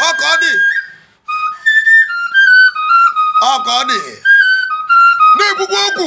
ọ ka ọ dị ọ ka ọ dị na-ekwukwa okwu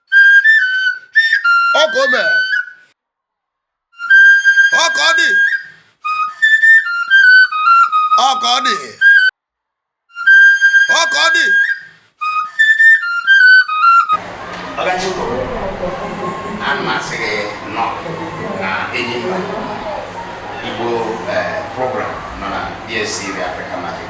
ọ ka o mere ọ ka ọ dị ọ ka ọ dị ọ ka ọ dị Ọgachukwu, ana m asị gị nnọọ na Enyimba Igbo eh, program nọ na DSTV Africa Magic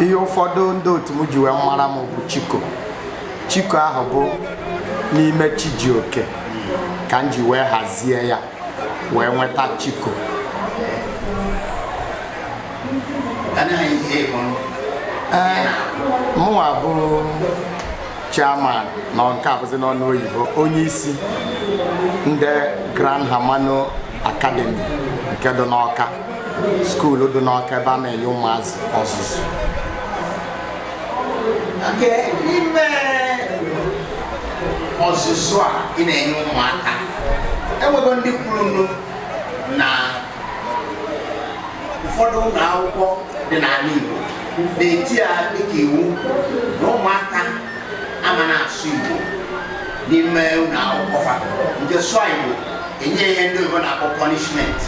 ihe ụfọdụ ndị otu m ji wee mara m bụ chiko chiko ahụ bụ n'ime chijioke ka m ji wee hazie ya wee nweta chiko ee mụnwa bụ chairman na nke a bụzi n'ọnụ oyibo onye isi ndị grand hermano academy nke dị n'ọka skuul dị n'ọka ebe a na-enye ụmụazị ọzụzụ n'ime ọzụzụ a ị na-enye ụmụaka e nwego ndị kwuru na ụfọdụ ụlọ akwụkwọ dị n'ala Igbo na-eti ya dịka iwu na ụmụaka ama na-asụ Igbo n'ime ụlọ akwụkwọ fa nke sụọ Igbo e nye ihe ndị oyibo na-akpọ punishment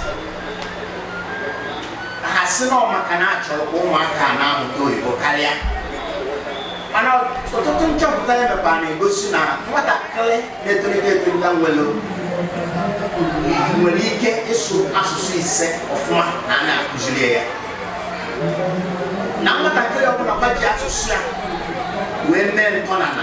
ha sị na ọ maka na a chọrọ ka ụmụaka a na-amụta oyibo karịa mana ọtụtụ nchọpụta ya mekwa na-egosi na nwatakịrị na-etolite etolite nwere nwere ike ịsụ asụsụ ise ọfụma na a na-akụziri ya na nwatakịrị ọbụla ga-eji asụsụ ya wee mee ntọnana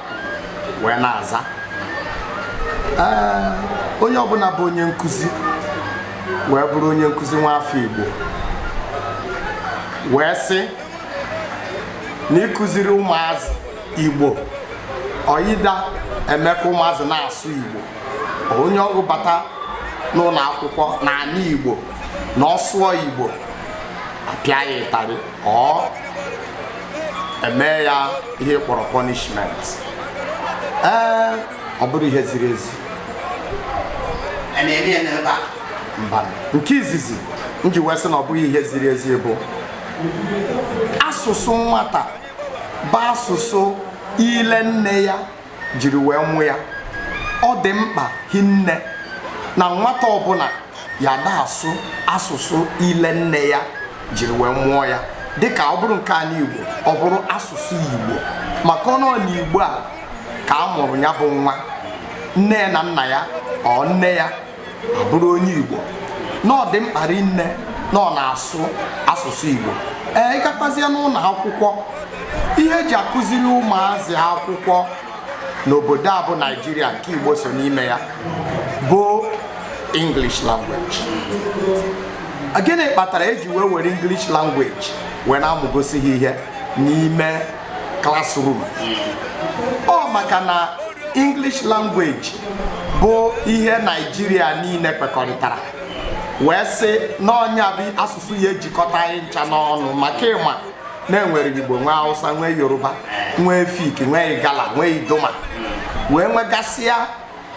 wee na-aza ee onye ọbụla bụ onye nkụzi wee bụrụ onye nkụzi nwa afọ Igbo wee sị na ịkụziri ụmụazị Igbo or ị da-eme ka ụmụazị na-asụ Igbo onye ọ bụ bata n'ụlọ akwụkwọ n'ala Igbo na ọ sụọ Igbo a pịa ya ịtarị or e mee ya ihe a kpọrọ punishment ee ọ bụrọ ihe ziri ezi mba nke izizi m ji wee sị na ọ bụghị ihe ziri ezi bụ asụsụ nwata bụ asụsụ ile nne ya jiri wee mụ ya ọ dị mkpa hinne na nwata ọbụla ya ada asụ asụsụ ile nne ya jiri wee mụọ ya dịka ọ bụrụ nke anyị Igbo ọ bụrụ asụsụ Igbo maka ọ n'ala Igbo a ka a mụrụ ya bụ nwa nne ya na nna ya or nne ya abụrụ onye Igbo na ọ dị mkpa rinne na ọ na-asụ asụsụ Igbo ee ịgakwazie n'ụlọ akwụkwọ ihe eji akụziri ụmụazị akwụkwọ n'obodo a bụ Naijiria nke Igbo so n'ime ya bụ English language gịnị kpatara eji wee were English language wee na-amụgosi ha ihe n'ime classroom ọ maka na English language bụ ihe Naijiria niile kwekọrịtara wee sị na ọ nya bụ asụsụ ya ejikọta anyị ncha n'ọnụ maka ị ma na e nwere Igbo nwee Hausa nwee Yoruba nwee Efik nwee Igala nwee Idoma wee nwegasịa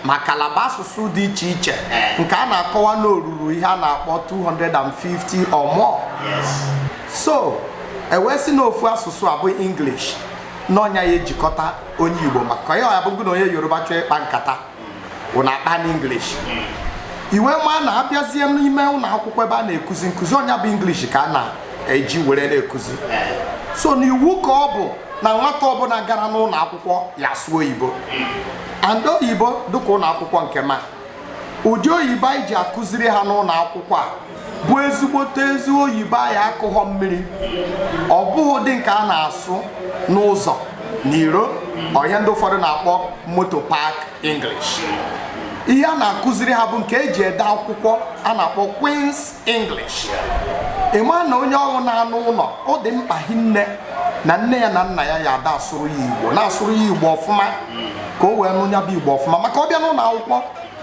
ma Calabar asụsụ dị iche iche eh. nke a na-akọwa na o ruru ihe a na-akpọ 250 or more so e wee sị na ofu asụsụ a bụ English na ọ nya ya ejikọta onye Igbo maka ya abụ gị na onye Yoruba chọọ ịkpa nkata ụnụ akpa n'English hmm. i wee ma na a bịazie n'ime ụlọ akwụkwọ ebe a na-ekuzi nkụzi ọ nya bụ English ka a na-eji were na-ekuzi eh. so na iwu ka ọ bụ na nwata ọbụla gara n'ụlọ akwụkwọ ya sụọ oyibo hmm. and oyibo dịka ụlọ akwụkwọ nke ma ụdị oyibo anyị ji akụziri ha n'ụlọ akwụkwọ a bụ ezigbote ezi oyibo anyị akụghọ mmiri ọ bụghị ụdị nke a na-asụ n'ụzọ n'iro ọ ya ndị ụfọdụ na-akpọ motor park English ihe a na-akụziri ha bụ nke eji ede akwụkwọ a na-akpọ Queen's English ị ma na onye ọbụla nọ n'ụlọ ọ dị mkpa hinne na nne ya na nna ya ya ada asụrụ ya igbo na-asụrụ ya igbo ọfụma ka o wee nụ ya bụ igbo ọfụma maka ọ bịa n'ụlọ akwụkwọ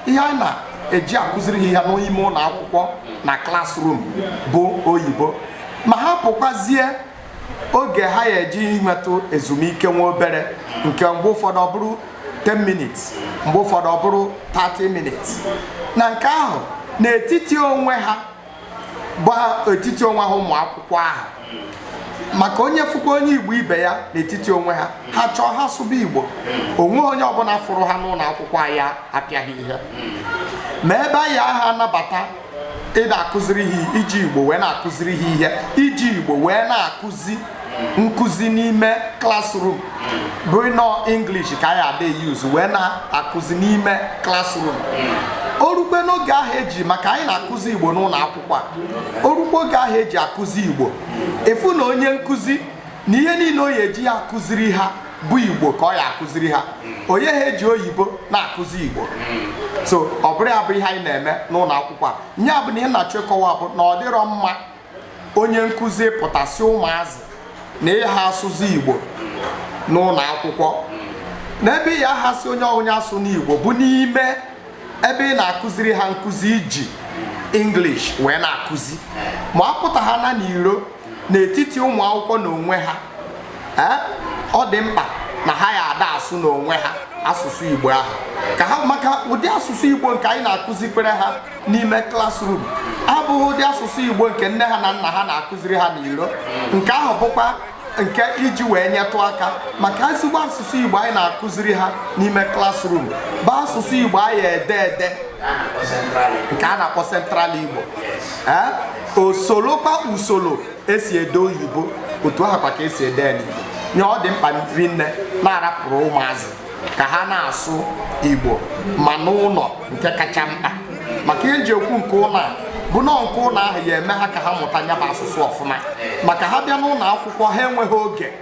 ihe a na-eji akụziri ha ihe n'ime ụlọ akwụkwọ na classroom bụ oyibo ma ha pụkwazie oge ha ya eji nwetụ ezumike nwa obere nke mgbe ụfọdụ ọ bụrụ 10 minutes mgbe ụfọdụ ọ bụrụ 30 minutes na nke ahụ n'etiti onwe ha bụ etiti onwe ha ụmụ akwụkwọ ahụ maka onye fụkwa onye igbo ibe ya n'etiti onwe ha ha chọọ ha sụba igbo o nweghị onye ọbụla fụrụ ha n'ụlọ akwụkwọ ya apịa ha ihe ma ebe anyị aha anabata ịda akụziri ha iji igbo wee na-akụziri ha ihe iji igbo wee na-akụzi nkụzi n'ime classroom bụ na ọ English ka anyị ada use wee na-akụzi n'ime classroom o rukwe n'oge ahụ eji maka anyị na-akụzi igbo n'ụlọ akwụkwọ a o rukwe oge ahụ eji akụzi igbo ị fụ na onye nkụzi na ihe niile o ya eji ya akụziri ha bụ igbo ka ọ ya akụziri ha onye ha eji oyibo na-akụzi igbo so ọ bụrụ ya bụ ihe anyị na-eme n'ụlọ akwụkwọ a nya bụ na ihe m na-achọ ịkọwa bụ na ọ dịrọ mma onye nkụzi pụta sị ụmụazị na ịha asụzi igbo n'ụlọ akwụkwọ n'ebe ị ya asị onye ọbụna asụna igbo bụ n'ime ebe ị na-akụziri ha nkụzi eji English wee na-akụzi ma apụta ha na n'iro n'etiti ụmụ akwụkwọ n'onwe ha ee ọ dị mkpa na ha ya ada asụ n'onwe ha asụsụ igbo ahụ ka ha maka ụdị asụsụ igbo nke anyị na-akụzikwere ha n'ime classroom abụghị ụdị asụsụ igbo nke nne ha na nna ha na-akụziri ha n'iro nke ahụ bụkwa nke eji wee nyetụ aka maka ezigbo asụsụ igbo anyị na-akụziri ha n'ime classroom bụ asụsụ igbo a ya ede ede nke a na-akpọ central igbo ee o solokwa usoro esi ede oyibo otu ahụ kwa ka esi ede ya n'igbo nya ọ dị mkpa rinne na-arapụrụ ụmụazị ka ha na-asụ igbo ma n'ụlọ nke kacha mkpa maka ihe m ji ekwu nke ụlọ a bụ na nke ụlọ ahụ ya eme ha ka ha mụta nya bụ asụsụ ọfụma maka ha bịa n'ụlọ akwụkwọ ha enweghị oge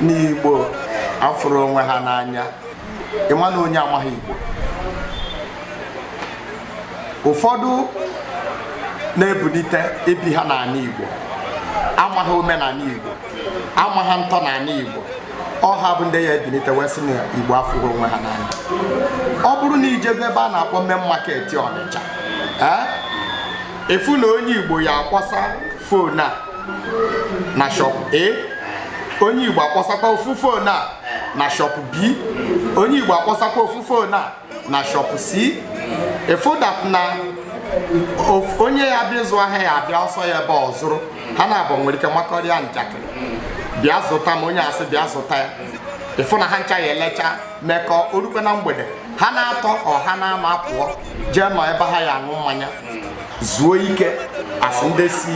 na igbo afụrọ onwe ha n'anya ịma na onye amaghị igbo ụfọdụ na-ebulite ebighị n'ala igbo amaghị omenala igbo amaghị ntọ n'ala igbo ọ ha bụ ndị ya ebilite wee sị na igbo afụrọ onwe ha n'anya ọ bụrụ na i jebe ebe a na-akpọ main market ọnịcha ee ị fụ na onye igbo ya akpọsa phone a na shop A onye Igbo akpọsakwa ofu phone a na shop B onye Igbo akpọsakwa ofu phone a na shop C ị find out na onye ya bịa ịzụ ahịa ya abịa ọ sọ ya ebe ọ zụrụ ha naabọ nwere ike makọrịa njakịrị bịa zụta m onye a sị bịa zụta ya ị fụ na ha ncha ya elecha mekọ o rukwe na mgbede ha na-atọ or ha na-anọ apụọ jee nọ ebe ha ya aṅụ mmanya zuo ike as ndị si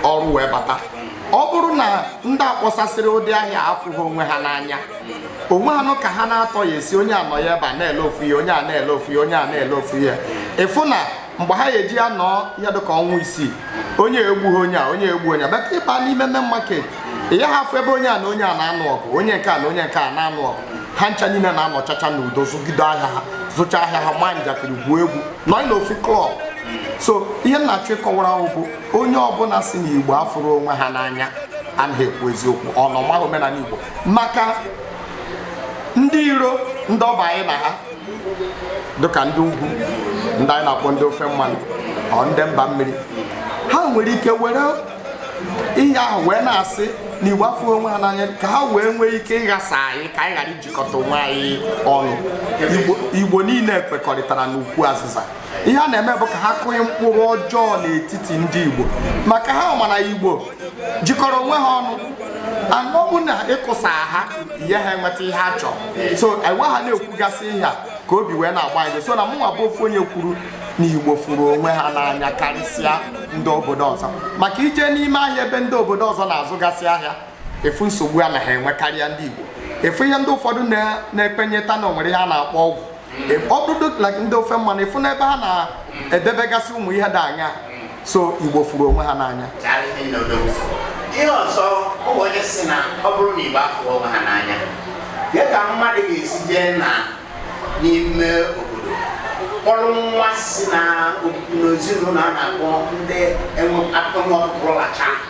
ọrụ wee bata ọ bụrụ na ndị a kpọsasịrị ụdị ahịa afụghị onwe ha n'anya o nweghị nụ ka ha na-atọ ya esi onye a nọ ya ebe a na-ele ofu ihe onye a na-ele ofu ihe onye a na-ele ofu ihe ị fụ na mgbe ha ya eji anọ ihe dịka ọnwa isii onye egbughị onye a onye egbuo onye a but ị baa n'ime main market ị yaghị afụ ebe onye a na onye a na-anụ ọgụ onye nke a na onye nke a na-anụ ọgụ ha ncha niile na-anọchacha n'udo zụgide ahịa ha zụcha ahịa ha maa njakịrị gwuo egwu nọ n'ofu club so ihe m na-achọ ịkọwara bụ onye ọbụla si na igbo afụrọ onwe ha n'anya anaghị ekwu eziokwu ọ na ọ maghị omenala igbo maka ndị iro ndị ọbịa anyị na ha dịka ndị ugwu ndị anyị na-akpọ ndị ofe mmanụ or ndị mba mmiri ha nwere ike were ihe ahụ wee na-asị na igbo afụrọ onwe ha n'anya ka ha wee nwee ike ịghasa anyị ka anyị ghara ijikọta onwe anyị ọnụ igbo niile kwekọrịtara n'ukwu azịza ihe a na-eme bụ ka ha kụnye mkpụrụ ọjọọ n'etiti ndị igbo maka ha ma na igbo jikọrọ onwe ha ọnụ anọ bụ na ịkụsa ha ihe ha enweta ihe ha chọrọ so enwe ha na-ekwugasị ihe a ka obi wee na-agba anyị so na mụnwa bụ ofu onye kwuru na igbo fụrụ onwe ha n'anya karịsịa ndị obodo ọzọ maka i jee n'ime ahịa ebe ndị obodo ọzọ na-azụgasị ahịa ị fụ nsogbu ha na-enwe karịa ndị igbo ị fụ ihe ndị ụfọdụ na-ekwenyeta na o nwere ihe a na-akpọ ọgwụ ọ bụrụ like ndị ofe mmanụ ị fụ n'ebe ha na-edebegasị ụmụ ihe dị anya so igbo fụrụ onwe ha n'anya ihe ọzọ ọ bụ onye si na ọ bụrụ na igbo afụrọ onwe ha n'anya ya ka mmadụ ga-esi jee na n'ime obodo kpọrọ nwa si na n'ezinụlọ a na-akpọ ndị enwe akpọnwụ ọkpụrụlacha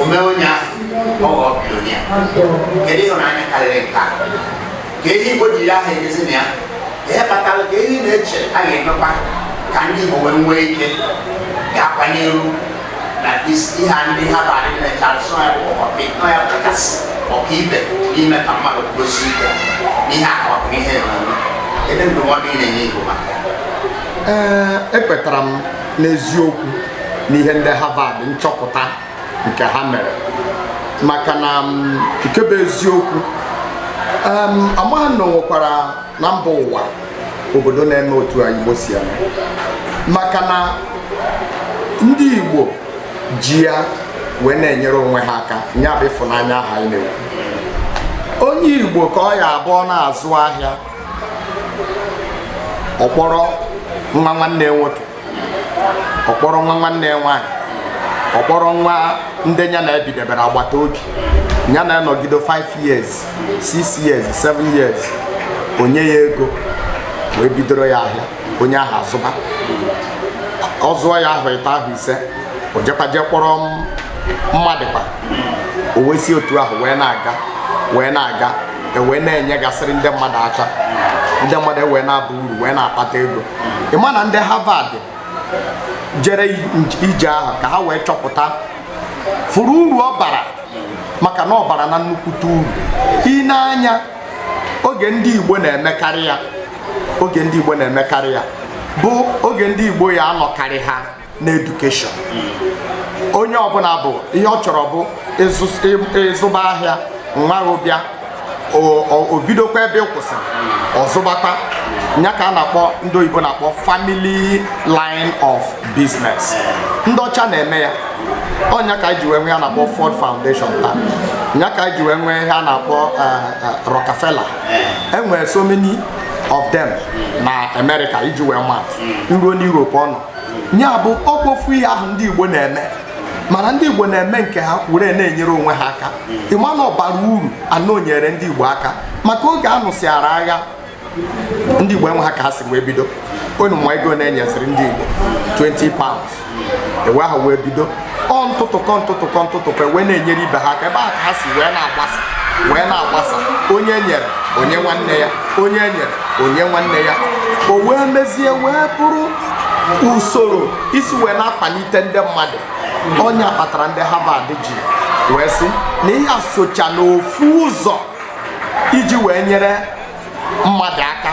o mee onye ahụ ọ ghọọ billionaire kedu ịhụnanya karịrị nke a ka ihe igbo ji ya aha emezi na ya ihe kpatara ka ihe ị na-eche a ga-emekwa ka ndị igbo wee nwee ike ga-akwanye elu na ihe a ndị harvard na-eche asụ ya bụ ọkọpị nọ ya kachasị ọkaibe n'ime ka mmadụ kwudosi ike n'ihe akọpụ ihe na-eme kedu ndụmọdụ ị na-enye igbo maka ya ekwetara m n'eziokwu n'ihe ndị Harvard nchọpụta nke ha mere maka na mm, nke bụ eziokwu amaghị m na o nwekwara na mba ụwa obodo na-eme otu a Igbo si eme maka na ndị Igbo ji ya wee na-enyere onwe ha aka nya bụ ịfụnanya ahụ anyị na-ekwu onye Igbo ka ọ ya-abụ ọ na-azụ ahịa ọ kpọrọ nwa nwanne ya nwoke ọ kpọrọ nwa nwanne ya nwaanyị ọ kpọrọ nwa ndị ya na ha bidebere agbata obi ya na ya anọgide 5 years 6 years 7 years o nye ya ego wee bidoro ya ahịa onye ahụ azụba ọ zụọ ya ahọ ịtọ ahọ ise o jekwa jee kpọrọ mmadụ kwa o wee si otu ahụ wee na-aga wee na-aga ewee na-enyegasịrị ndị mmadụ aka ndị mmadụ ewee na-aba uru wee na-akpata ego ị ma na ndị Harvard jere ije ahụ ka ha wee chọpụta fụrụ uru ọ bara maka na ọ bara na nnukwute uru i nee anya oge ndị Igbo na-emekarị ya oge ndị Igbo na-emekarị ya bụ oge ndị Igbo ya anọkarị ha na edukeshọn onye ọbụla bụ ihe ọ chọrọ bụ ịzụba ahịa nwa bịa o bidokwa ebe ị kwụsịrị ọ zụbakwa nya ka a na-akpọ ndị oyibo na-akpọ family line of business ndị ọcha na-eme ya ọ nya ka e ji wee nwee ihe a na-akpọ Ford Foundation taa nya ka e ji wee nwee ihe a na-akpọ eh, eh, Rockefeller e nwere so many of them na America iji wee mat i ruo n'Europe ọnụ nya bụ ọ kwa ofu ihe ahụ ndị Igbo na-eme mana ndị Igbo na-eme nke ha were na-enyere onwe ha aka ị ma na ọ bara uru na o nyere ndị Igbo aka maka oge a nụsịara agha ndị Igbo enweha ka ha si wee bido unu ma ego na e nyeziri ndị Igbo 20 pounds ebe ahụ wee bido ọ ntụtụkọ ntụtụkọ ntụtụkọ wee na-enyere ibe ha aka ebe ahụ ka ha si wee na-agbasa wee na-agbasa onye e nyere o nye nwanne ya onye e nyere o nye nwanne ya o wee mezie wee bụrụ usoro e si wee na-akpalite ndị mmadụ ọ nya kpatara ndị Harvard ji wee sị na ihe a socha n'ofu ụzọ iji wee nyere mmadụ aka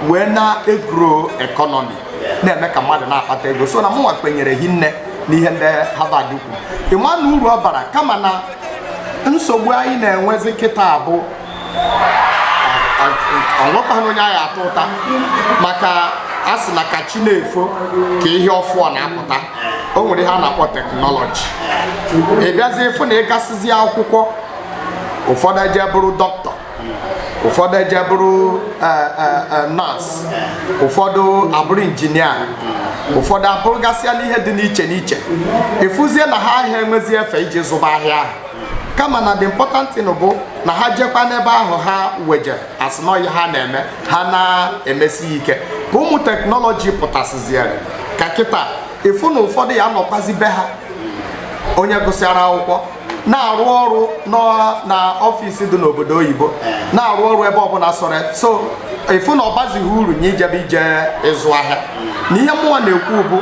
wee na-egro ekọnọmi na-eme ka mmadụ na-akpata ego so na mụnwa kwenyere hinne n'ihe ndị Harvard kwuru ị ma na uru ọ bara kama na nsogbu anyị na-enwezi kịta bụ o nwekwana onye anyị ata ụta maka a sị na ka chi na-efo ka ihe ọfụọ na-apụta o nwere ihe a na-akpọ teknọlọji ị bịazie ị fụ na ị gasịzi akwụkwọ ụfọdụ eje bụrụ dọkịta ụfọdụ eje bụrụ e, e, e, nọọsụ ụfọdụ abụrụ injinia ụfọdụ abụrụgasịanụ ihe dị n'iche n'iche ị fụzie na ha aha enwezi efe iji zụba ahịa ahụ kama na the important thing bụ na ha jekwa n'ebe ahụ ha wee je a sị na ọ ya ha na-eme ha na-emesi ya ike ka ụmụ teknọlọji pụtasịziere ka kịta ị fụ na ụfọdụ ya-anọkwazi be ha onye gụsịara akwụkwọ na-arụ ọrụ na ọfịs dị n'obodo oyibo na-arụ ọrụ ebe ọbụla sọrọ so ị fụ na ọ baziha uru nye ijebe ije ịzụ ahịa na ihe mụnwa na-ekwu bụ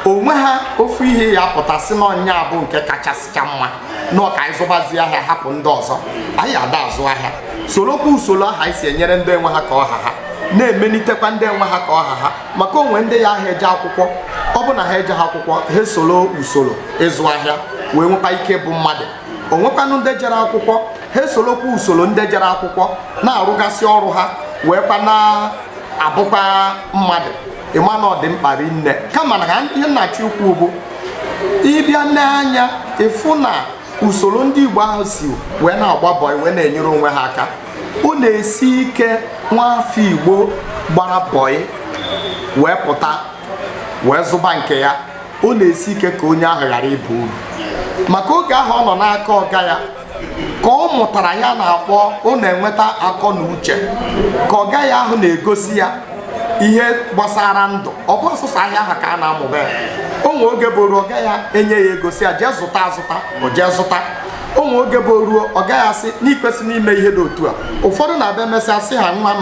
o nweha ofu ihe ya-apụta sị na ọ nya bụ nke kachasịcha mma na ọ ka anyị zụbazi ahịa hapụ ndị ọzọ anyị ada azụ ahịa sorokwa usoro ahụ anyị si enyere ndị enweha ka ọ ha ha na-emelitekwa ndị enweha ka ọ ha ha maka o nwe ndị yaha eje akwụkwọ ọ bụ na ha ejeha akwụkwọ ha esoro usoro ịzụ ahịa wee nwekwa ike bụ mmadụ o nwekwanụ ndị jere akwụkwọ ha esolokwa usoro ndị jere akwụkwọ na-arụgasị ọrụ ha wee kwa na-abụkwa mmadụ ị ma na ọ dị mkpa rinne kama na ihe m na-achọ ikwu bụ ị bịa nee anya ị fụ na usoro ndị Igbo ahụ si wee na-agba bọị wee na-enyere onwe ha aka ọ na-esi ike nwaafọ Igbo gbara bọị wee pụta wee zụba nke ya ọ na-esi ike ka onye ahụ ghara ịba uru maka oge ahụ ọ nọ n'aka ọga ya ka ọ mụtara ihe a na-akpọ ọ na-enweta akọ na uche ka ọga ya ahụ na-egosi ya ihe gbasara ndụ ọ bụhọ sọsọ ahịa ahụ ka a na-amụ be ya o nwe oge bụ ruo ọga ya enye ya ego sị ya jee zụta azụta o jee zụta o nwe oge bụ ruo ọga ya asị na i kwesị n'ime ihe dị otu a ụfọdụ na-abịa emesịa sị ha nwa m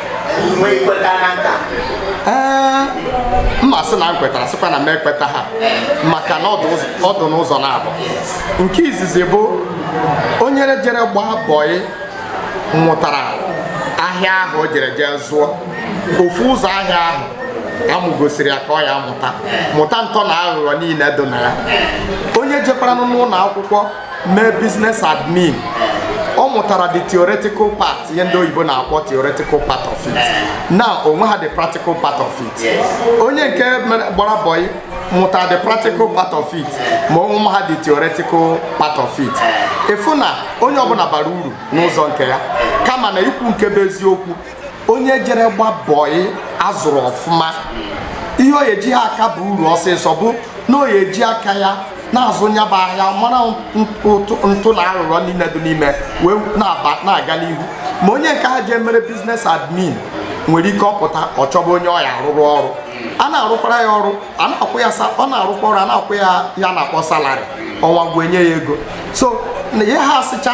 ee m ma asị na m kwetara sịkwa na m ekwetaha maka na ọ dụ n'ụzọ naabọ nke izizi bụ onye jere gbaa bọyị nwụtara ahịa ahụ o jere jee zụọ ofu ụzọ ahịa ahụ a mụgosiri ya ka ọ ya amụta mụta ntọ na aghụghọ niile dị na ya onye jekwaranụ n'ụlọ akwụkwọ mee business admin ọ mụtara the theoretical part ihe ndị oyibo na-akpọ theoretical part of it na o nweha the practical part of it onye nke gbara bọyị mụtara the practical part of it ma o nweha the theoretical part of it ị fụ na onye ọbụla bara uru n'ụzọ nke ya kama na ikwu nke bụ eziokwu onye jere gbaa bọyị a zụrụ ọfụma ihe o ye ji ha aka aba uru ọsịsọ bụ na o ye eji aka ya na-azụ nya bụ ahịa mara ntọ na aghụghọ niile dị n'ime wee na-aga n'ihu ma onye nke ahụ jee mere business admin nwere ike ọ pụta ọ chọba onye ọ ya arụrụ ọrụ a na-arụkwara ya ọrụ a na-akwụ ya ọ na-arụkwa ọrụ a na-akwụ ya ihe a na-akpọ salary ọnwa gwụ e nye ya ego so na ihe ha asịcha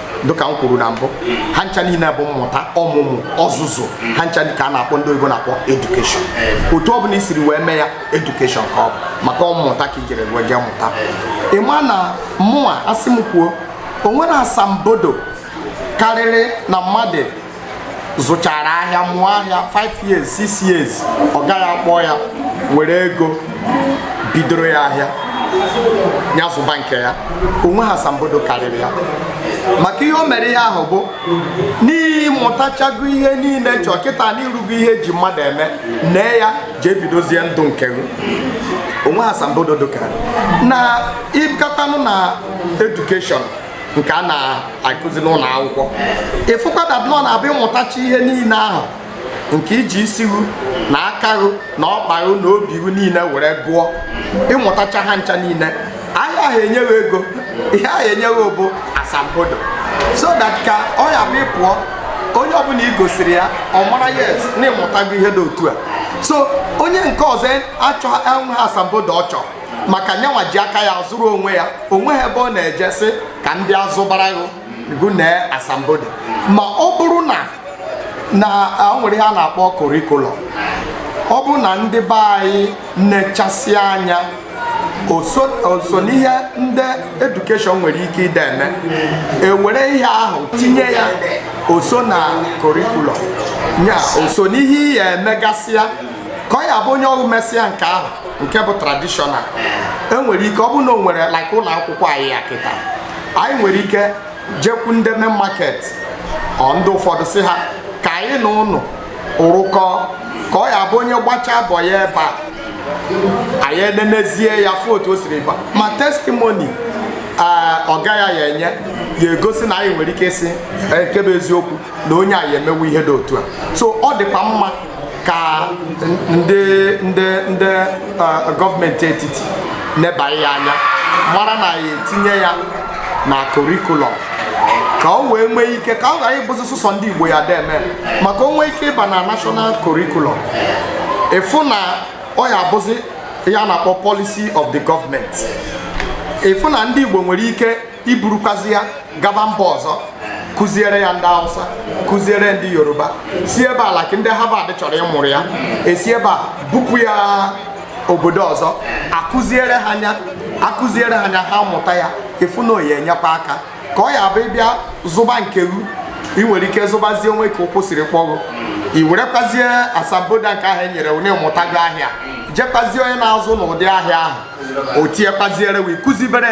dịka m kwuru na mbụ ha ncha niile bụ mmụta ọmụmụ ọzụzụ ha ncha ka a na-akpọ ndị oyibo na-akpọ education otu ọbụla i siri wee mee ya education ka ọ bụ maka mmụta ka i jere wee jee mụta ị ma na mụnwa a sị m kwuo o nwere asambodo karịrị na mmadụ zụchara ahịa mụọ ahịa 5 years 6 years ọga ya akpọ ya were ego bidoro ya ahịa ya zụba nke ya o nweha asambodo karịrị ya maka ihe o mere ihe ahụ bụ na ị mụtachago ihe niile chọọ kịta na i rugo ihe e ji mmadụ eme nee ya jee bidozie ndụ nke gị o nweha asambodo dịka nya ị bịatanụ na education nke a na-akụzi n'ụlọ akwụkwọ ị fụkwa that na ọ na-abụ ị mụtacha ihe niile ahụ nke i ji isi ghụ na aka ghụ na ọkpa ghụ na obi ghụ niile were gụọ ị mụtacha ha ncha niile a yaha enye ghụ ego ihe a ya enye ghụ bụ asambodo so that ka ọ ya bụ ị pụọ onye ọbụla i gosiri ya ọ mara yes na ị mụtago ihe dị otu a so onye nke ọzọ achọ o nweha asambodo ọ chọrọ maka nyanwa ji aka ya zụrụ onwe ya o nwehọ ebe ọ na-eje sị ka ndị azụbarahọ gụ nye asambodo ma ọ bụrụ na na o nwere ihe a na-akpọ korikulọm ọ bụrụ na ndị be anyị nechasị anya o so n'ihe ndị edukeshọn nwere ike ide eme e were ihe ahụ tinye ya o so na korikulọm ya o so n'ihe ị ya emegasịa ka ọ ya bụ onye ọrụ mesịa nke ahụ nke bụ tradishọnal enwere ike ọ bụ na o nwere like ụlọ akwụkwọ anyị ya kịta anyị nwere ike jekwu ndị main market ọ ndị ụfọdụ sị ha ka anyị na unu rụkọ ka ọ ya bụ onye gbachaa bọyị ebe a anyị enenezie ya fụ otu o siri gba ma testimoni ọga ya ya enye ya egosi na anyị nwere ike ịsị nke bụ eziokwu na onye a ya emewe ihe dị otu a so ọ dịkwa mma ka ndị ndị ndị gọọmenti etiti neba ya anya mara na ya etinye ya na korikulọm ka o wee nwee ike ka ọ ghara ịbụzi sụsọ ndị Igbo ya deme ma ka o nwee ike ịba na national curriculum ị fụ na ọ ya abụzi ihe a na-akpọ policy of the government ị fụ na ndị Igbo nwere ike iburukwazi ya gaba mba ọzọ kụziere ya ndị Hausa kụziere ndị Yoruba si ebe a like ndị Harvard chọrọ ịmụrụ ya e si ebe a bupụ ya obodo ọzọ a kụziere ha nya ha mụta ya ị fụ na ọ ya enyekwa aka ka ọ ya abụ ị bịa zụba nke gụ ị nwere ike zụbazie o nwee ka ụkwụ siri kpọ gụ i werekwazie asambodo nke ahụ e nyere onye mụtago ahịa jekwazie onye na-azụ n'ụdị ahịa ahụ o tiekwaziere wee kụzibere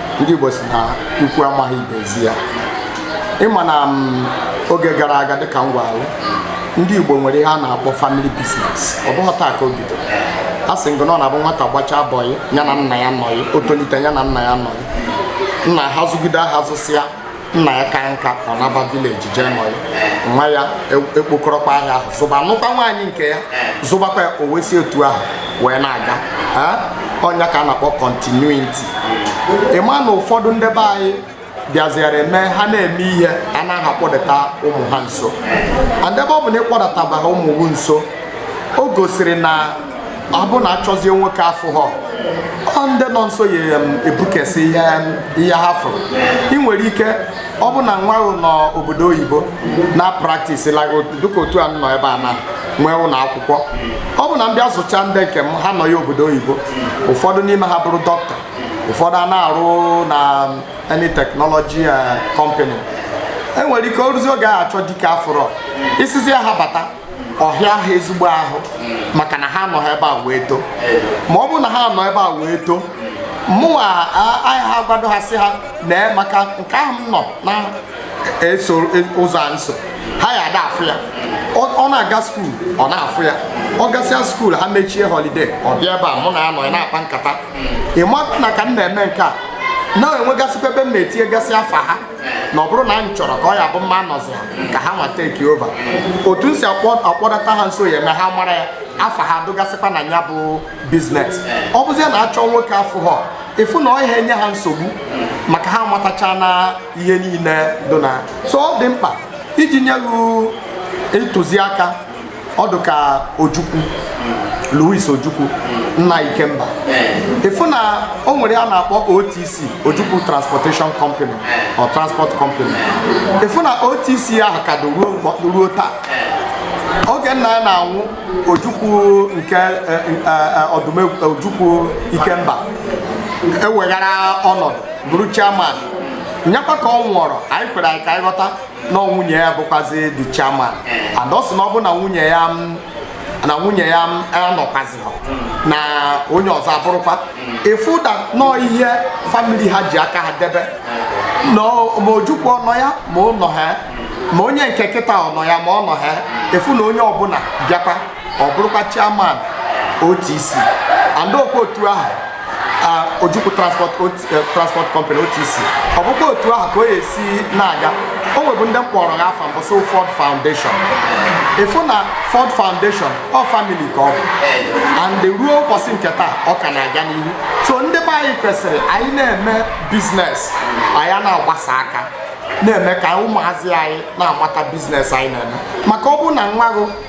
ndị Igbo sị na ikwu amaghị ibe ezi ya ịma na mm, oge gara aga dịka m gwara gị ndị Igbo nwere ihe a na-akpọ famili biznes ọ bụghị taa ka o bido asị m gụ na ọ na-abụ nwata gbachaa bọyị ya na nna ya nọyị o tolite ya na nna ya nọyị nna ha zụgide ahịa zụsịa nna ya kaa nka ọ naba vileji jee nọ ya nwa ya e- ekpokọrọkwa ahịa ahụ zụba nụkwa nwaanyị nke ya zụbakwa ya o wee si otu ahụ wee na-aga Eh? ọ nya ka a na-akpọ kọntinuiti ịma na ụfọdụ ndị be anyị bịaziere eme ha na-eme ihe anaghị akpọdata ụmụ ha nso and ebe ọ bụ na ị kpọdatabahọ ụmụ gụ nso o gosiri na ọ bụ na a chọzie nwoke afụhọ ọ ndị nọ nso ya em, ebukesị ihe em, ihe ha fụrụ ị nwere ike ọ bụ na nwa ahụ nọ obodo oyibo na praktis like dịka otu a m nọ ebe a na nwee ụlọ akwụkwọ ọ bụ na m bịa zụcha ndị nke m ha nọ ya obodo oyibo ụfọdụ n'ime ha bụrụ dọkịta ụfọdụ a na-arụ na any teknọlọji kọmpani enwere ike o ruzie oge a a chọ dike afụrọ ị sịzie ha bata ọ hịa ha ezigbo ahụ maka na ha anọhọ ebe a wee too ma ọ bụrụ na ha nọ ebe a wee too mụnwa ayaha gwado ha sị ha nee maka nke ahụ m nọ na-eso e, ụzọ a m so ha ya ada afụ ya ọ na-aga skuul ọ na-afụ ya ọ gasịa skuul ha mechie holiday ọ bịa ebe a mụ na ya nọ na-akpa nkata ịma na ka m na-eme nke a na e nwegasịkwa ebe m na-etinyegasị afa ha na ọ bụrụ na m chọrọ ka ọ ya bụ mụ anọziha ka ha nwa take over otu m si akpọdata ha nso ya eme ha mara ya afa ha dụgasịkwa na ya bụ business ọ bụzie na achọọ nwoke afụha ịfụ na ọ yaha enye ha nsogbu maka ha amatachana ihe niile dị na so ọ dị mkpa iji nye gị ntụziaka ọ dị ka ojukwu louis ojukwu nna ikemba ịfụ na o nwere a na-akpọ otc ojukwu transportation company or transport company ịfụ na otc ahụ ka dị ruo ụbọ- ruo taa oge nna ya na-anwụ ojukwu nke eh, eh, eh, ọdụmegwu ojukwu ikemba eweghara ọnọdụ bụrụ chairman nyakwa ka ọ nwụọrọ anyị kwere anyị ka anyị ghọta na nwunye ya bụkwazi the chairman eh. and ọ sị na ọ bụ na nwunye ya na nwunye ya anọkwaziho na onye ọzọ abụrụkwa ịfụ hmm. na ọ ihe family ha ji aka ha debe eh. ma ojukwu ọ nọ ya ma ọ nọha ma onye nke kịta ọ nọ ya ma ọ nọha ịfụ na onye ọbụla bịakwa ọ bụrụkwa chairman OTC and ọ kwa otu ahụ Ojukwu transport eh, transport company OTC ọ bụkwa otu ahụ ka ọ ya esi na-aga o nwebu ndị m kpọrọ ha afa mbụ so Ford Foundation ịfụ na Ford Foundation ọ family ka ọ bụ and ruo ụbọchị nke taa ọ ka na-aga n'ihu so ndị be anyị kwesịrị anyị na-eme business anyị na-agbasa aka na-eme ka ụmụazị anyị na-amata business anyị na-eme maka ọ bụ na nwa gụ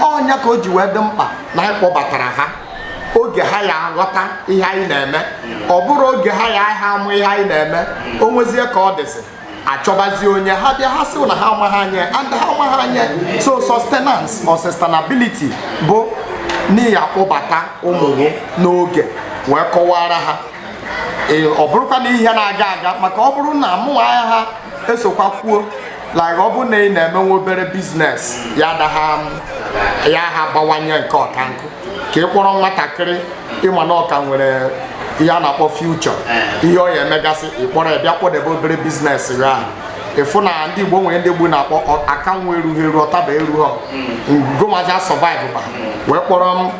ọ nya ka o ji wee dị mkpa na anyị kpọbatara ha oge ha ya aghọta ihe anyị na-eme ọ bụrụ oge ha ya ha amụ ihe anyị na-eme o nwezie ka ọ dịsị achọbazi onye ha bịa ha sị na ha amaghị anya and ha amaghị anya so sustenance or sustainability bụ na ị ya akpọbata ụmụ gụ n'oge wee kọwara ha ọ bụrụkwa na ihe na-aga aga maka ọ bụrụ na mụnwa ayaha esokwa kwuo like ọ bụrụ na ị na-emenwe obere business ya adaha ya abawanye nke ọka nkụ ka ị kpọrọ nwatakịrị ịma na ọ ka nwere ihe a na-akpọ future eh. ihe ọ ya emegasị ịkpọrọ ya bịa kpọdebe obere business ya ahụ ịfụ na ndị igbo nwere ndị igbo na-akpọ aka nwa erughị eru ọtaba erughọ ngomaja survive ba wee kpọrọ m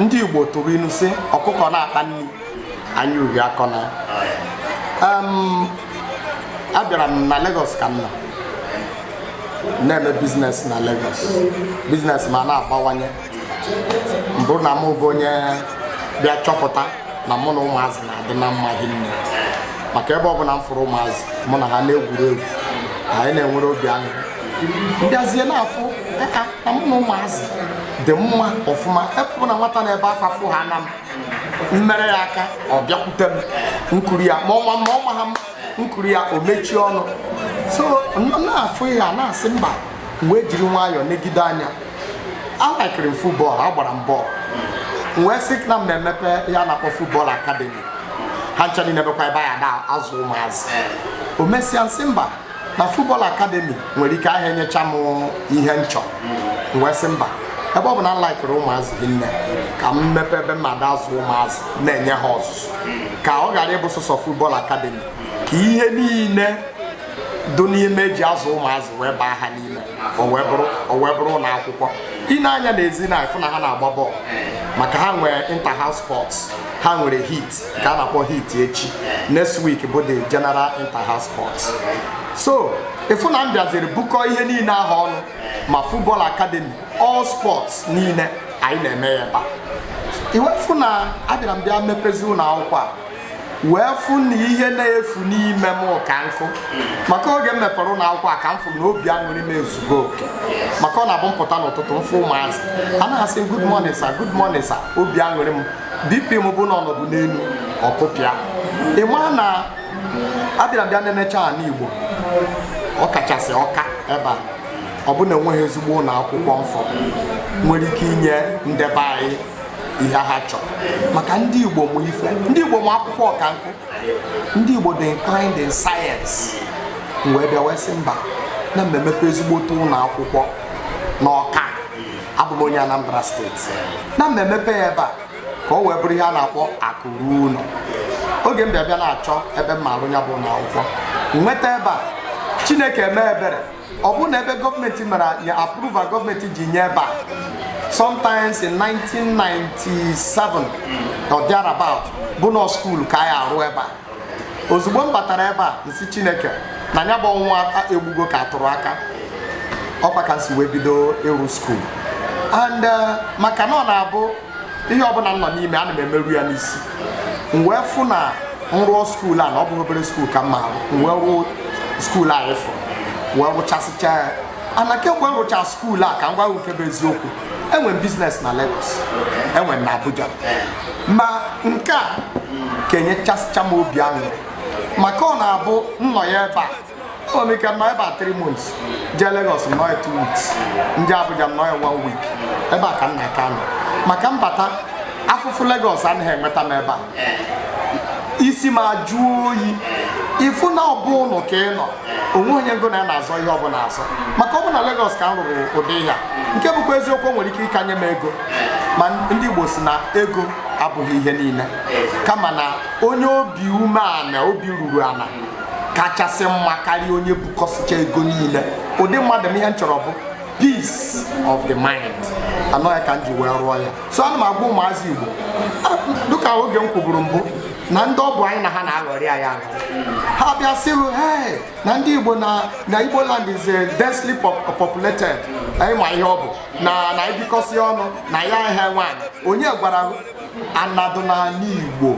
ndị igbo tụrụ inu sị ọkụkọ na-akpa nri anya uhie akọna abịara m na Lagos ka m nọ na-eme business na Lagos business m a na-abawanye m bụrụ na m bụ onye bịa chọpụta na mụ na ụmụazị na-adị na mma hinne maka ebe ọ bụla m fụrụ ụmụazị mụ na ha na-egwuri egwu anyị na-enwere obi aṅụrị m bịazie na-afụ na mụ na ụmụazị dị mma ọfụma ebe ọ bụ na nwata na-ebe akwa fụ ha na m m mere ya aka ọ bịakwute m m kuru ya ma ọ ma m ma ọ maha m m kuru ya o mechie ọnụ so m na-afụ ihe a na-asị mba m wee jiri nwayọọ negide anya alaikiri m football agbara m bọọlụ m wee sị na m na-emepe ihe a na-akpọ football academy ha ncha niile bụkwa ebe a ya na-azụ ụmụazị o mesịa m sị mba na football academy nwere ike aha enyecha m ihe m chọ m wee sị mba ebe ọ bụ na m laikiri ụmụazị hinne ka m mepe ebe m ma-ada azụ ụmụazị na-enye ha ọzụzụ ka ọ ghara ịbụ sọsọ football academy ka ihe niile dị n'ime e ji azụ ụmụazị wee baa ha n'ime o wee bụrụ ụlọ akwụkwọ i nee anya n'ezi na ị fụ na ha na-agba bọọlụ maka ha nwere inter house sports ha nwere heat nke a na-akpọ heat echi next week bụ the general inter house sports so ị fụ na m bịaziri bukọ ihe niile ahụ ọnụ ma football academy all sports niile anyị na-eme ya ebe a i wee fụ na abịara m bịa mepezi ụlọ akwụkwọ a wee fụ na ihe na-efu n'ime m ka nkụ maka oge m mepere ụlọ akwụkwọ a ka m fụrụ na obi aṅụrị m ezugo oke maka ọ na-abụ m pụta n'ụtụtụ m fụ ụmụazị a na-asị m good morning sir good morning sir obi aṅụrị m bp m bụ na ọ nọbu n'elu ọ kụpịa ị ma na abịara m bịa na-enecha ala igbo ọ kachasị Ọka ebe a ọ bụ na e nweghị ezigbo ụlọ akwụkwọ m fụ nwere ike inye ndị be anyị ihe ha chọrọ maka ndị Igbo ma ife ndị Igbo ma akwụkwọ ọka nkụ ndị Igbo dị inclined in science m wee bịa wee sị mba na m ma-emepe ezigbote ụlọ akwụkwọ n'Ọka abụ m onye Anambra steeti na m ma-emepe ya ebe a ka ọ wee bụrụ ihe a na-akpọ akụ ruo ụlọ oge m bịa bịa na-achọ ebe m ma-arụ ya bụ ụlọ akwụkwọ nweta ebe a Chineke eme ebere ọ bụrụ na ebe gọọmenti mere ya approval gọọmenti ji nye ebe a sometimes in 1997 or thereabout bụ na ọ skuul ka a ya-arụ ebe a ozugbo m batara ebe a m sị Chineke na ya bụ ọnwa egbugo ka a tụrụ aka ọ kwa ka m si wee bido ịrụ skuul and uh, maka na ọ na-abụ ihe ọbụla m nọ n'ime ana m emeru ya n'isi m wee fụ na m rụọ skuul a na ọ bụghị obere skuul ka m ma arụ m wee rụọ skuul afụ m wee rụchasịcha ya and kemgbe m rụcha skuul a ka m gwa gị nke bụ eziokwu enwere m biznes na Lagos enwere m na Abuja ma nke a ka enyechasịcha m obi aṅụrị maka ọ na-abụ m nọ ya ebe a enwe m ike nọ ebe a 3 months jee Lagos nọ ya 2 weeks m jee Abuja nọ ya 1 week ebe a ka m na-aka nọ maka mbata afụfụ Lagos anaghị enweta m ebe a isi m ajụọ oyi ị fụ na ọ bụ ụlọ ka ị nọ o nwe onye ngị na ya na-azọ ihe ọbụla azọ maka ọ bụ na Lagos ka m rụrụ ụdị ihe a nke bụkwa eziokwu o nwere ike ịka nye m ego ma ndị Igbo sị na ego abụghị ihe niile kama na onye obi umeala obi ruru ala kachasị mma karịa onye bukọsịcha ego niile ụdị mmadụ m ihe m chọrọ bụ peace of the mind and ọ ya ka m ji wee rụọ ya so ana m agwa ụmụazị igbo ah, dịka oge m kwuburu mbụ na ndị ọ bụ anyị na ha na-aghọrị anyị ahụ ha bịa sịrụ hey na ndị igbo na na igbo land is densely populated ị ma ihe ọ bụ na na ibikọsị ọnụ na anyị enwe ana onye gwara ana dụ n'ala Igbo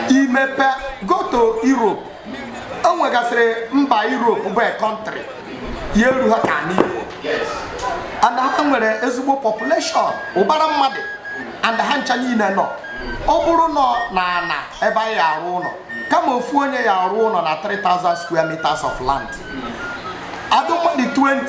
imepe go to Europe o nwegasịrị mba Europe bụ a country ya eruha ka ala Igbo and ha nwere ezigbo population ụbara mmadụ and ha ncha niile nọ ọ bụrụnụ na ana ebe anyị arụ ụlọ kama ofu onye ya arụ ụlọ na 3000 square meters of land a dụ mmadụ 20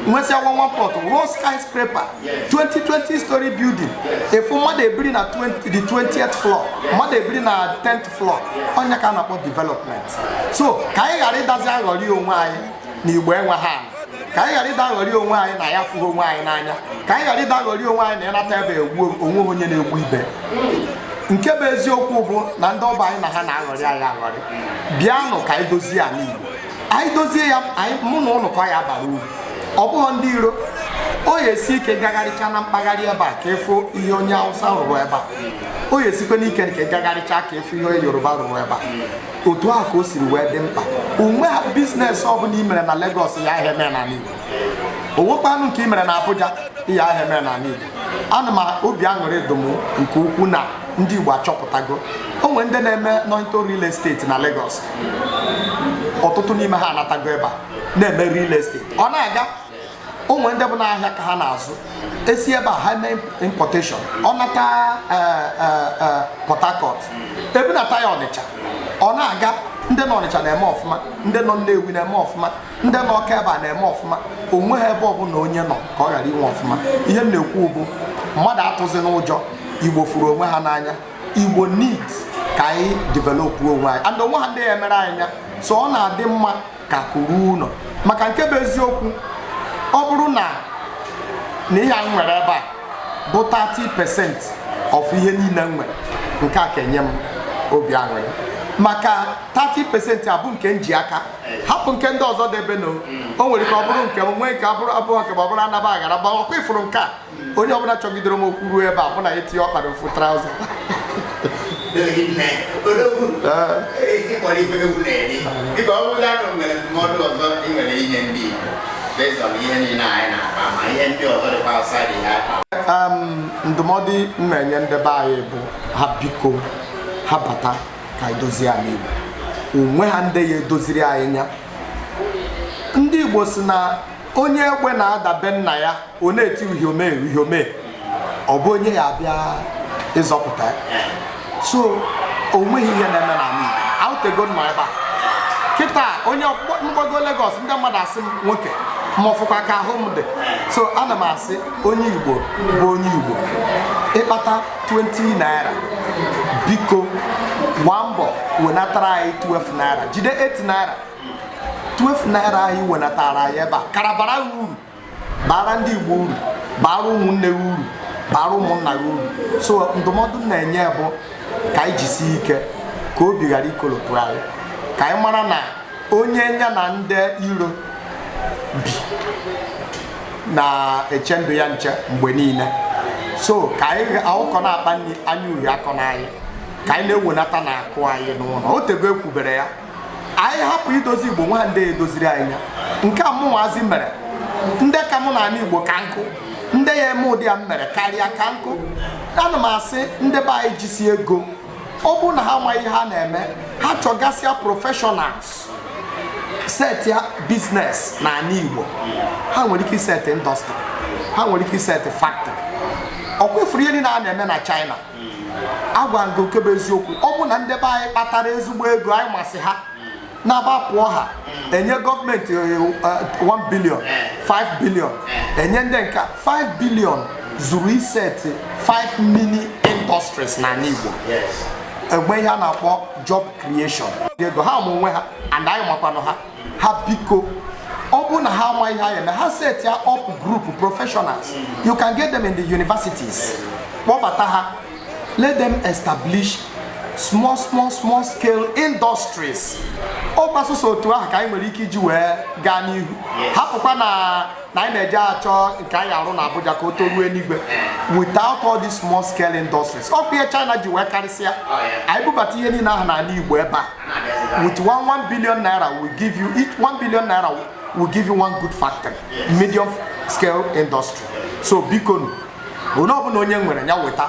nwesịa one one plot rụọ skyscraper 20 20 story building ị fụ mmadụ ebiri na the 20th floor mmadụ ebiri na 10th floor ọ ya ka a na-akpọ development so ka anyị ghara ịdazi aghọrị onwe anyị na igbo enweha ala ka anyị ghara ịda aghọrị onwe anyị na anyị afụghị onwe anyị n'anya ka anyị ghara ịda aghọrị onwe anyị na ị nata ebe egbu o nweha onye na-egbu ibe nke bụ eziokwu bụ na ndị ọ bụ anyị na ha na-aghọrị anyị aghọrị bịanụ ka anyị dozie ala igbo anyị dozie ya mụ na ụnụ ka ọ ya abara uru ọ bụghọ ndị iro ọ ya esi ike gagharịcha na mpaghara ebe a ka ịfụ ihe onye awụsa rụrụ ebe a ọ ya esikwanụ ike ka ị gagharịcha ka ịfụ ihe onye yoruba rụrụ ebe a otu a ka o siri wee dị mkpa o nweha biznes ọbụla i mere na Lagos ị yaha eme n'ala Igbo o nwekwanụ nke i mere na Abuja ị yaha eme n'ala Igbo and obi aṅụrị dụ m nke ukwu na ndị Igbo achọpụtago o nwere ndị na-eme nọ into real estate na Lagos ọtụtụ n'ime ha anatago ebe a na-eme real estate ọ na-aga o nwe ndị bụ na ahịa ka ha na-azụ esi ebe a ha mee importation ọ nata e, e, e, Port Harcourt ebunata ya Ọnịcha ọ na-aga ndị nọ Ọnịcha na-eme ọfụma ndị nọ Nnewi na-eme ọfụma ndị nọ ọka ebe a na-eme ọfụma o nweha ebe ọbụla onye nọ ka ọ ghara ime ọfụma ihe m na-ekwu bụ mmadụ atụzina ụjọ igbo fụrụ onwe ha n'anya igbo need ka anyị developụ onwe anyị and o nweha ndị ya-emere anyị ya so ọ na-adị mma ka akụ ruo ụlọ maka nke bụ eziokwu ọ bụrụ na na ihe a m nwere ebe a bụ 30 percent of ihe niile m nwere nke a ka enye m obi aṅụrị maka 30 percent a bụ nke m ji aka hapụ nke ndị ọzọ debenu o nwere ike ọ bụrụ nke m nwee nke abụrụ abụọ nke ma ọ bụrụ anaba aghara gbawa ọ kwa ị fụrụ nke a onye ọbụla chọgidere m okwu ruo ebe a mụ na ya etinye ọkpa na ofu traụza ịkpọrọ ife egwu na-eri dịka ọ bụrụ na e nwere ndụmọdụ ọzọ ị nwere inye ndị Igbo based on ihe niile anyị na-akpa ma ihe ndị ọzọ dịkwa outside ihe akpa Em, ndụmọdụ m na-enye ndị be anyị bụ ha biko ha bata ka anyị dozie anị igbo o nweha ndị ya-edoziri anyị nya ndị igbo si na onye egbe na-ada be nna ya ọ na-eti uhiome uhiome ọ bụ onye ya-abịa ịzọpụta ya so o nweghị ihe na-eme n'anị igbo o tego m nọ ebe a kịta onye ọkpọ- m gbago Lagos ndị mmadụ asị m nwoke ma ọfụkwa ka ahụ m dị so ana m asị onye igbo bụ onye igbo ị kpata 20 naira biko gbaa mbọ wenatara anyị 12 naira jide 8 naira 12 naira a ị wenatara anyị ebe a kara bara gị uru bara ndị Igbo uru bara ụmụnne gị uru bara ụmụnna gị uru so ndụmọdụ m na-enye bụ ka anyị jisie ike ka obi ghara ikolopụ anyị ka anyị mara na onye nya na ndị iro bi na-eche ndụ ya nche mgbe niile so ka anyị ọkụkọ na-akpa nri anya uhie akọna anyị ka anyị na-ewenata na akụ anyị n'ụlọ o tego e kwubere ya anyị hapụ idozi igbo o nweha ndị ya-edoziri anyị ya nke a mụnwazi mere ndị ka mụ n'anị igbo ka nkụ ndị ya-eme ụdị a m mere karịa ka nkụ ana m asị ndị be anyị jisi ego ọ bụrụ na ha amaghị ihe ha na-eme ha chọgasịa professionals setịa biznes n'anị Igbo ha nwere ike isetị indọstrị ha nwere ike isetị factory ọ kwa ị fụrụ ihe niile a na-eme na China a gwa gị nke bụ eziokwu ọ bụ na ndị be anyị kpatara ezigbo ego anyị masị ha na-agbapụ ha enye gọọmenti eh, eh, 1 billion 5 billion enye ndị nke a, 5 billion zuru isetị 5 mini industries n'anị Igbo e nwee ihe a na-akpọ job creation ego ha ma onwe ha and anyị makwanụ ha ha biko ọ bụrụ na ha amaghị ihe ha ya-eme ha setịa up group professionals you can get them in the universities kpọbata ha let them establish small small small scale industries ọkwa sọsọ otu ahụ ka anyị nwere ike iji wee gaa n'ihu hapụkwa na na anyị na-eje achọ nke anyị arụ na Abuja ka o toruo eluigwe without all these small scale industries ọkwa ihe China ji wee karịsịa anyị bubata ihe niile ahụ n'ala Igbo ebe a with one one billion naira will give you each one billion naira will give you one good factory medium scale industry so bikonu onye ọbụla onye nwere ya weta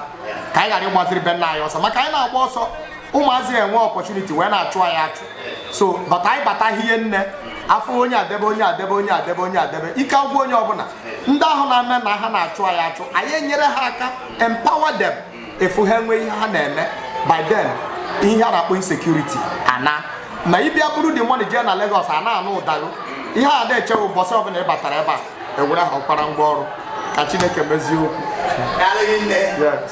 ka anyị ghara ịgbaziri be nna anyị ọsọ maka anyị na-agba ọsọ ụmụazị enwe opportunity wee na-achụ anyị achụ so but anyị bata ihe niile ahụ onye adebe onye adebe onye adebe onye adebe ike agwụ onye ọbụla ndị ahụ na-eme na ha na-achụ anyị achụ anyị enyere ha aka empower them ị hụ ha enwee ihe ha na-eme by then ihe a na-akpọ insecurity anaa ma ị bịa buru the money jee na Lagos a na-anụ ụda gị ihe a na-eche bụ ụbọchị ọbụla ị batara ebe a ewere ha akwara ngwa ọrụ ka Chineke mezie okwu yes